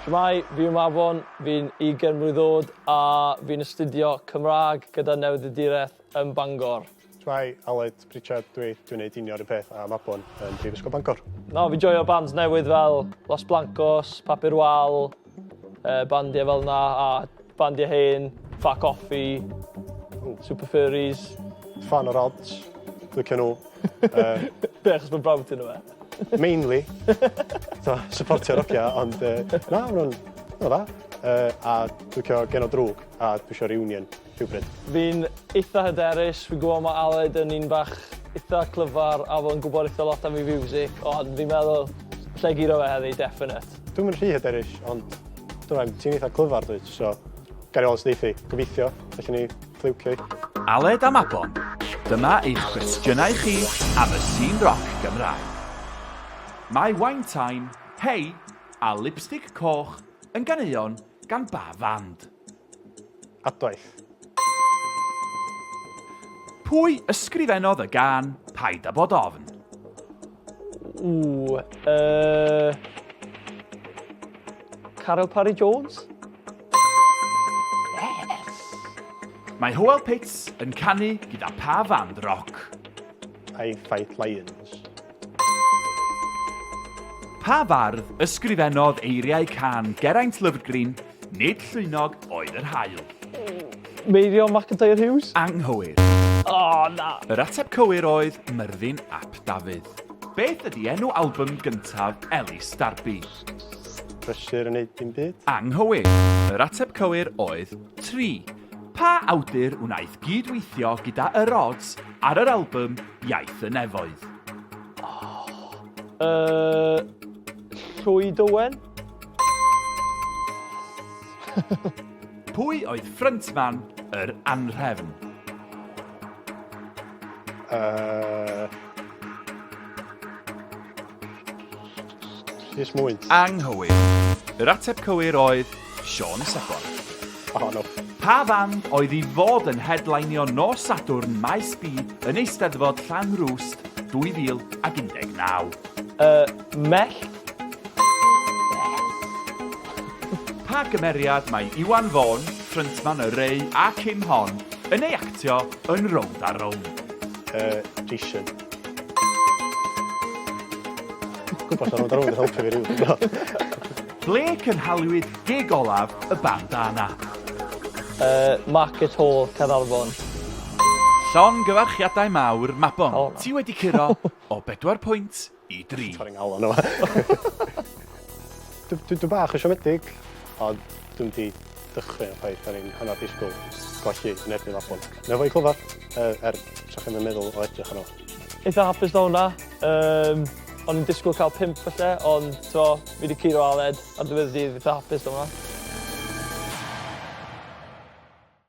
Shwmae, fi yw Mabon, fi'n ugen mlwydd od a fi'n astudio Cymraeg gyda Newyddiadureth yn Bangor. Shwmae, Aled Pritchard dwi, dwi'n neud union run peth a Mabon yn Prifysgol Bangor. Na, fi'n joio bands newydd fel Los Blancos, Papur Wal, Uh, bandiau fel na, a bandiau hen, Fat Coffee, Super Furries. Fan o'r odds, lycio nhw. Uh, Be, achos mae'n brawd ti'n yma? Mainly. so, supportio'r ogia, ond uh, na, mae'n nhw'n dda. Uh, a dwi'n cael gen o drwg, a dwi'n siarad reunion. rhywbryd. Fi'n eitha hyderus, fi'n gwybod mae Aled yn un bach eitha clyfar a fo'n gwybod eitha lot am ei fiwsig, ond fi'n meddwl lle giro fe heddi, definite. Dwi'm yn rhy hyderus, ond dwi'n ti'n eitha clyfar dwi, so gael ei weld sy'n eithi. Gobeithio, felly ni ffliwcio i. Aled a Mabon, dyma eich cwestiynau chi am y sîn roc Gymraeg. Mae Wine Time, Hey a Lipstick Coch yn ganeuon gan ba fand? Adwaith. Pwy ysgrifennodd y gan Paid â bod ofn? Ww, uh, Caryl Parry Jones? Yes! Mae Howell Pitts yn canu gyda pa fand roc? I Fight Lions. Pa fardd ysgrifennodd eiriau can Geraint Lyfrgrin, Nid llwynog oedd yr haul? Meirio McIntyre Hughes? Anghywir. O, na! Yr ateb cywir oedd Myrddin ap Dafydd. Beth ydy enw album gyntaf Elis Darby? Pressure yn neud dim byd. Anghywir. Yr ateb cywir oedd Tri. Pa awdur wnaeth gyd-weithio gyda Yr Odds Ar yr albym Iaith y Nefoedd. Yy... Llwyd Owen? Pwy oedd ffryntman yr anrhefn? Yy... Rhys Mwyn. Anghywir. Yr ateb cywir oedd Siôn Sebon. Oh, no. Pa fand oedd i fod yn headlinio nos Sadwrn Maes B yn Eisteddfod Llanrwst 2019? Y Mellt pa gymeriad mae Iwan Vaughan, ffryntman y Ray a Kim Hon, yn ei actio yn Rownd a Rownd? Uh, Jason. Gwbod lle rownd a rownd yn helpu fi Ble cynhaliwyd gig olaf y band Ana? Yy market hall Caernarfon. Llongyfarchiadau mawr Mabon. O. Ti wedi curo o bedwar pwynt i dri. Torri ngalon yma. Dw dw dw bach yn siomedig ond dwi'm di dechrau y ffaith ar ein hanner disgwyl golli yn erbyn Mabon. Neu fo i clyfar, er, er sa chi'n meddwl o edrych arno. Eitha hapus na hwnna. Um, o'n i'n disgwyl cael pimp felly, ond to, fi wedi curo Aled ar ddiwedd dydd, eitha hapus na hwnna.